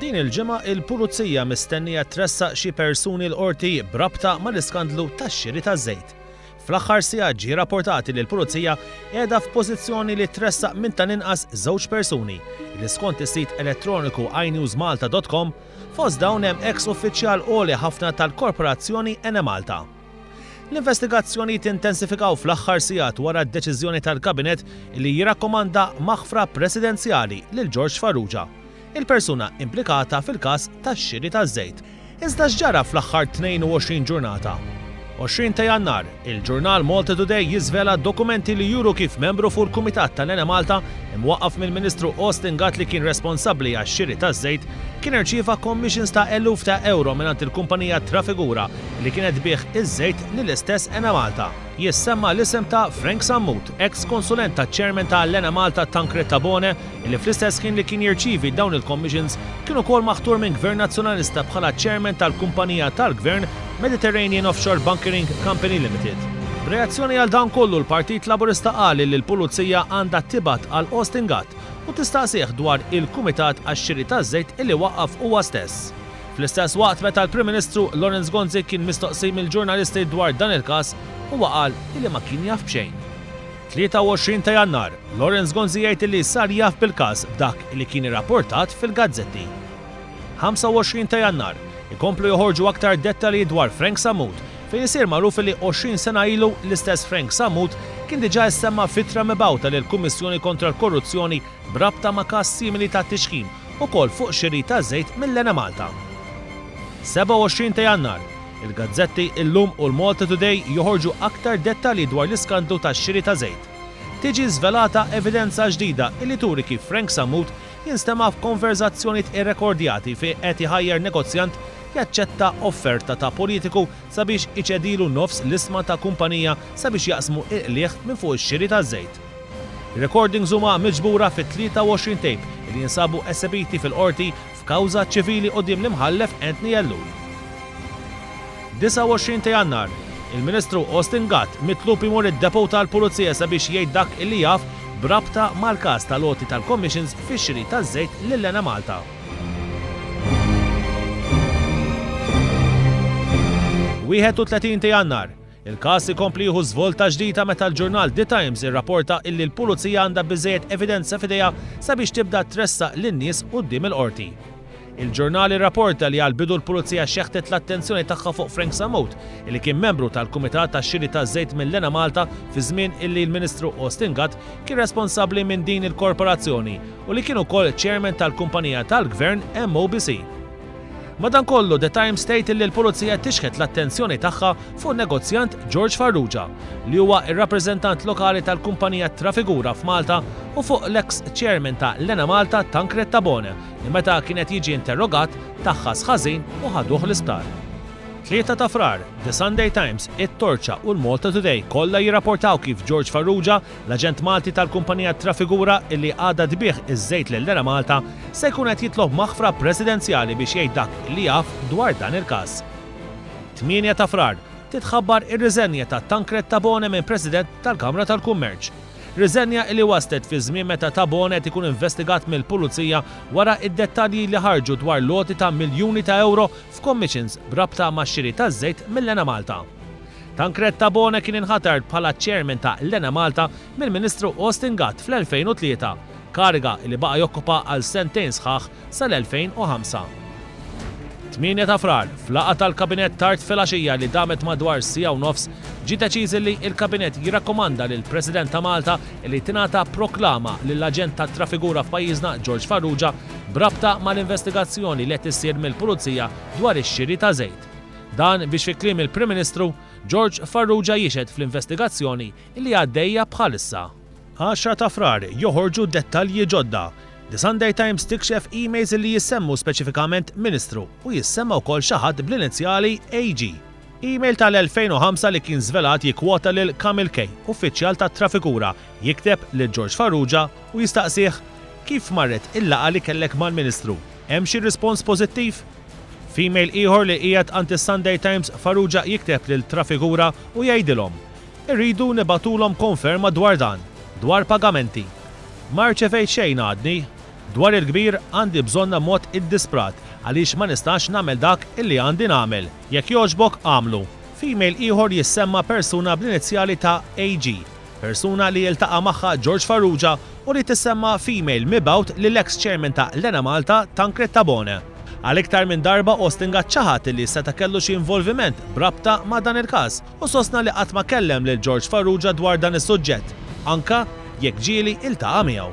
Din il-ġimgħa il-Pulizija mistennija tressaq xi persuni l-Qorti b'rabta mal-iskandlu tax-xiri taż-żejt. Fl-aħħar sigħat ġie rapportat li l-Pulizija qiegħda f'pożizzjoni li tressaq minn tal-inqas żewġ persuni li skont is-sit elettroniku inewsmalta.com fost dawn hemm eks uffiċjal għoli ħafna tal-korporazzjoni Enemalta. L-investigazzjonijiet intensifikaw fl-aħħar sigħat wara d-deċiżjoni tal-Kabinett li jirrakkomanda maħfra presidenzjali lil George Farrugia il-persuna implikata fil-każ tax-xiri taż-żejt. Iżda x'ġara fl-aħħar 22 ġurnata? 20 ta' Jannar, il-ġurnal Malta Today jiżvela dokumenti li juru kif membru fuq il-Kumitat tal-Enemalta, imwaqqaf mill-Ministru Austin Gatt li kien responsabbli għax-xiri taż-żejt, kien irċieva commissions ta' eluf ta' ewro mingħand il-kumpanija Trafigura li kienet tbigħ iż-żejt lill-istess Enemalta. Jissemma l-isem ta' Frank Sammut, eks konsulent taċ-Chairman ta' l-Enemalta Tancred Tabone, li fl-istess ħin li kien jirċievi dawn il-commissions kien ukoll maħtur minn Gvern Nazzjonalista bħala Chairman tal-kumpanija tal-Gvern Mediterranean Offshore Bunkering Company Limited. B'reazzjoni għal dan kollu l-Partit Laburista qal li l-Pulizija għandha tibgħat għal Austin Gatt u tistaqsih dwar il-kumitat għax-xiri taż-żejt illi waqqaf huwa stess. Fl-istess waqt meta l-Prim Ministru Lawrence Gonzi kien mistoqsi mill-ġurnalisti dwar dan il-każ huwa qal illi ma kien jaf b'xejn. 23 ta' Jannar, Lawrence Gonzi jgħid li sar jaf bil-każ b'dak li kien irrapportat fil-gazzetti. 25 ta' Jannar, Ikomplu joħorġu aktar dettalji dwar Frank Sammut fejn isir magħruf li 20 sena ilu l-istess Frank Sammut kien diġà issemma f'ittra mibgħuta lill-Kummissjoni Kontra l-Korruzzjoni b'rabta ma' każ simili ta' tixħim ukoll fuq xiri ta' żejt mill-Enemalta. 27 ta' Jannar, Il-gazzetti illum u l-Malta Today joħorġu aktar dettalji dwar l-iskandlu tax-xiri ta' żejt. Tiġi żvelata evidenza ġdida illi turi kif Frank Sammut jinstema' f'konverżazzjonijiet irrekordjati fi qed iħajjar negozjant jaċċetta offerta ta' politiku sabiex iċedilu nofs l-isma ta' kumpanija sabiex jaqsmu il-qligħ minn fuq ix-xiri taż-żejt. Ir-rekordings huma miġbura fi 23 tape illi jinsabu esebiti fil-Qorti F'kawża ċivili quddiem l-Imħallef Anthony Ellul. 29 ta' Jannar, Il-Ministru Austin Gatt mitlub imur id-Depot tal-Pulizija sabiex jgħid dak li jaf b'rabta mal-każ tal-għoti tal-commissions fix-xiri taż-żejt lil Enemalta. 31 ta' Jannar, Il-każ ikompli jieħu żvolta ġdida meta l-ġurnal The Times irrapporta illi l-Pulizija għandha biżżejjed evidenza f'idejha sabiex tibda tressaq lin-nies quddiem il-Qorti. Il-ġurnal irrapporta li għall-bidu l-Pulizija xeħtet l-attenzjoni tagħha fuq Frank Sammut, illi kien membru tal-Kumitat għax-Xiri taż-Żejt mill-Enemalta fiż-żmien illi l-Ministru Austin Gatt kien responsabbli minn din il-korporazzjoni u li kien ukoll Chairman tal-kumpanija tal-Gvern MOBC. Madankollu, The Times tgħid illi l-Pulizija tixħet l-attenzjoni tagħha fuq in-negozjant George Farrugia, li huwa r-rappreżentant lokali tal-kumpanija Trafigura f'Malta u fuq l-eks chairman ta' l-Enemalta Tancred Tabone li meta kien qed jiġi interrogat, taħħas ħażin u ħaduh l-isptar. 3 ta' Frar, The Sunday Times, it-Torċa u l-Malta Today kollha jirrapportaw kif George Farrugia L-aġent Malti tal-kumpanija Trafigura, illi għadha tbigħ iż-żejt lil Enemalta, se jkun qed jitlob maħfra presidenzjali biex jgħid dak li jaf dwar dan il-każ. 8 ta' Frar, titħabbar ir-riżenja ta' Tancred Tabone minn President tal-Kamra tal-Kummerċ. Riżenja illi waslet fi żmien meta Tabone qed ikun investigat mill-Pulizija wara d-dettalji li ħarġu dwar l-għoti ta' miljuni ta' ewro f'commissions b'rabta max-xiri taż-żejt mill-Enemalta. Tancred Tabone kien inħatar bħala ċ-Chairman ta' l-Enemalta mill-Ministru Austin Gatt fl-2003, kariga li baqa' jokkupa għal sentejn sħaħ sal-2005. 8 ta' Frar, f'laqgħa tal-Kabinett tard filgħaxija li damet madwar siegħa u nofs, ġie deċiż illi l-Kabinett jirrakkomanda lill-President ta' Malta illi tingħata proklama lill-aġent tat-trafigura f'pajjiżna George Farrugia b'rabta mal-investigazzjoni li qed issir mill-Pulizija dwar ix-xiri ta' żejt Dan biex fi kliem il-Prim Ministru, George Farrugia jixhed fl-investigazzjoni li għaddejja bħalissa. 10 ta' Frar, Joħorġu dettalji ġodda, The Sunday Times tikxef emails li jissemmu speċifikament Ministru u jissemma wkoll xi ħadd bl-inizjali AG. Email tal-2005 li kien żvelat jikkwota lil Kamil Kay, uffiċjal tat-Trafikura, jikteb lil George Farrugia u jistaqsih, Kif marret il-laqgħa li kellek mal-Ministru? Hemm xi rispons pożittiv? F'email ieħor li qiegħed għand is-Sunday Times, Farrugia jikteb lil Trafigura u jgħidilhom, Irridu nibagħtulhom konferma dwar dan, dwar pagamenti. Ma rċevejt xejn għadni. Dwar il-kbir għandi bżonn ammont iddisprat għaliex ma nistax nagħmel dak illi għandi nagħmel. Jekk jogħġbok agħmlu. F'email ieħor jissemma persuna bl-inizjali ta' AG. Persuna li ltaqa' magħha George Farrugia u li tissemma f'email mibgħut lill-eks chairman ta' l-Enemalta, Tancred Tabone. Għal iktar minn darba Ostinga ċaħad li seta' kellu xi involviment b'rabta ma' dan il-każ u sostna li qatt ma kellem lil George Farrugia dwar dan is-suġġett, anke jekk ġieli ltaqa' miegħu.